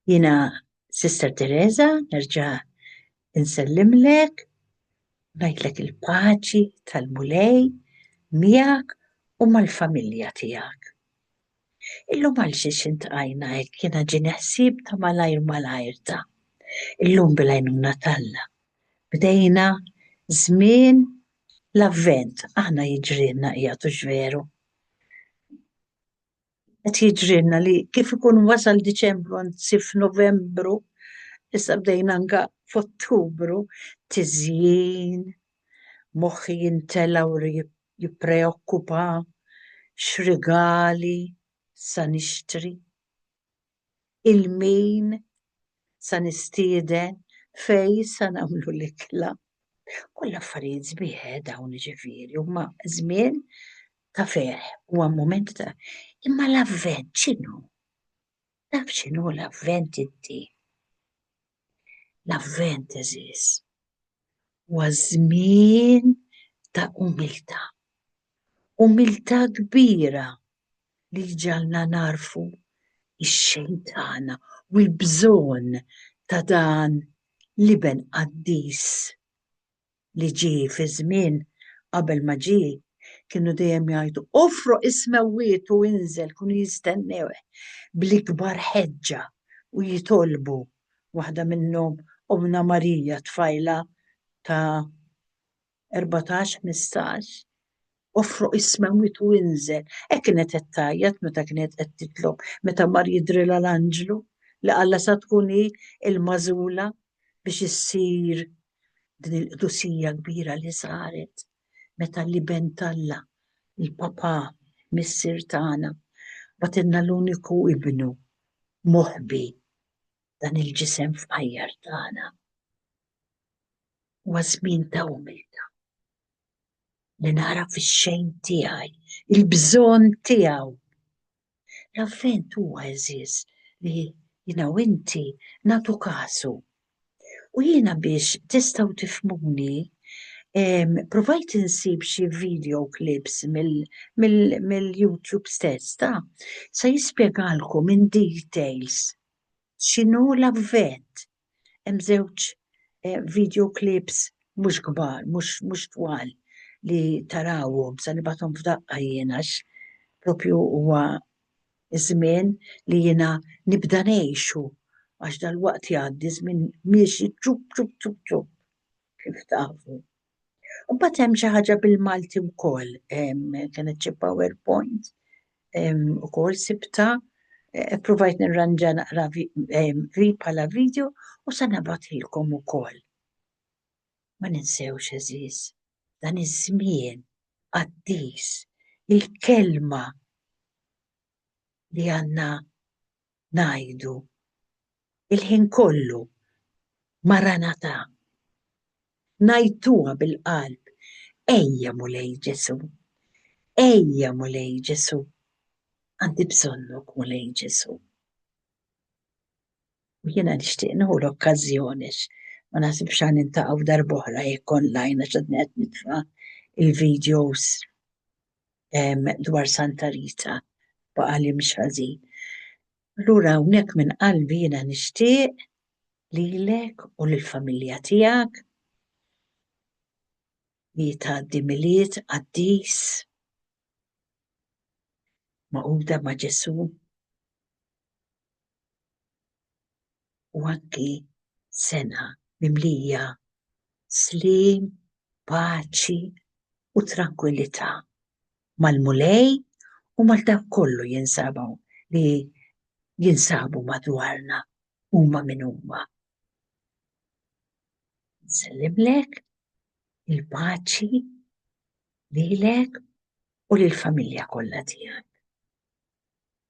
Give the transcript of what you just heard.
Jina Sister Teresa, nerġa' insellimlek, ngħidlek il-paċi tal-Mulej miegħek u mal-familja tiegħek. Illum għal xiex intqajna hekk jiena ġieni ħsieb ta' malajr malajr ta' illum bil-għajnuna t'Alla. Bdejna żmien L-Avvent aħna jiġrilna qiegħed hux veru? Qed jiġrilna li kif ikun wasal Diċembru anzi f'Novembru issa bdejna anka f'Ottubru tiżjin, moħħi jintela' u jippreokkupa, x'rigali sa nixtri. il-min sa nistieden, fejn sa nagħmlu l-ikla. Kollha affarijiet sbieħ eh dawn jiġifieri, huma żmien ta' ferħ, huwa mument ta' imma l-Avvent x'inhu? Taf x'inhu l-Avvent inti? L-Avvent, għeżież, huwa żmien ta' umiltà. Umiltà kbira li ġġagħalna nagħrfu x-xejn tagħna u l-bżonn ta' dan l-Iben qaddis. li ġie fi żmien qabel ma ġie, kienu dejjem jgħidu, Offroq is-smewwiet u inżel, kienu jistennewh bl-ikbar ħeġġa u jitolbu, waħda minnhom Ommna Marija, tfajla ta' erbatax, ħmistax, Offroq is-smewwiet u inżel. Hekk kienet qed tgħajjat meta kienet qed titlob, meta mar jidhrilha l-anġlu li qallha sa tkun hi l-magħżula biex issir din il-qdusija kbira li saret meta l-Iben t'Alla, il-Papà, Missier tagħna, bagħtilna l-uniku Ibnu moħbi, dan il-ġisem fqajjar tagħna. Huwa żmien ta' umiltà li nara fix-xejn tiegħi il-bżonn tiegħu L-Avvent huwa għeżież li jiena u inti nagħtu kasu. U jiena biex tistgħu tifhmuni, provajt insib xi video clips mill-YouTube stess ta' se jispjegalkom in details x'inhu l-Avvent. Hemm żewġ video clips mhux kbar, mhux twal li tarawhom se nibgħathom f'daqqa jien għax propju huwa ż-żmien li jiena nibda ngħixu għax dalwaqt jgħaddi ż-żmien miexi ċupp ċupp ċupp ċupp kif tafu. U bat hemm xi ħaġa bil-Malti wkoll, kienet xi PowerPoint ukoll sibta, eh, provajt nirranġa naqra li bħala video u se nabatilkom ukoll. Ma ninsewx eżiż, dan iż-żmien qaddis il-kelma li għandna ngħidu l-ħin kollu, Maranatà! Ngħidtuha bil-qalb, Ejja Mulej Ġesù! Ejja Mulej Ġesù! Għandi bżonnok Mulej Ġesù! U jiena nixtieq nieħu l-okkażjoni ma naħsibx għan nintaqgħu darb'oħra jekk online għax qed nitfa' il-videos dwar Santa Rita baqa' li mhix ħażin. Allura hawnhekk minn qalbi jiena nixtieq lilek u lill-familja tiegħek li tgħaddi milied qaddis magħquda ma' Ġesù u għaddi sena mimlija sliem, paċi u trankwillità mal-Mulej u mal dawk kollu jinsabu li jinsabu madwarna huma min huma. Nsellimlek il-paċi lilek u lill-familja kollha tiegħek.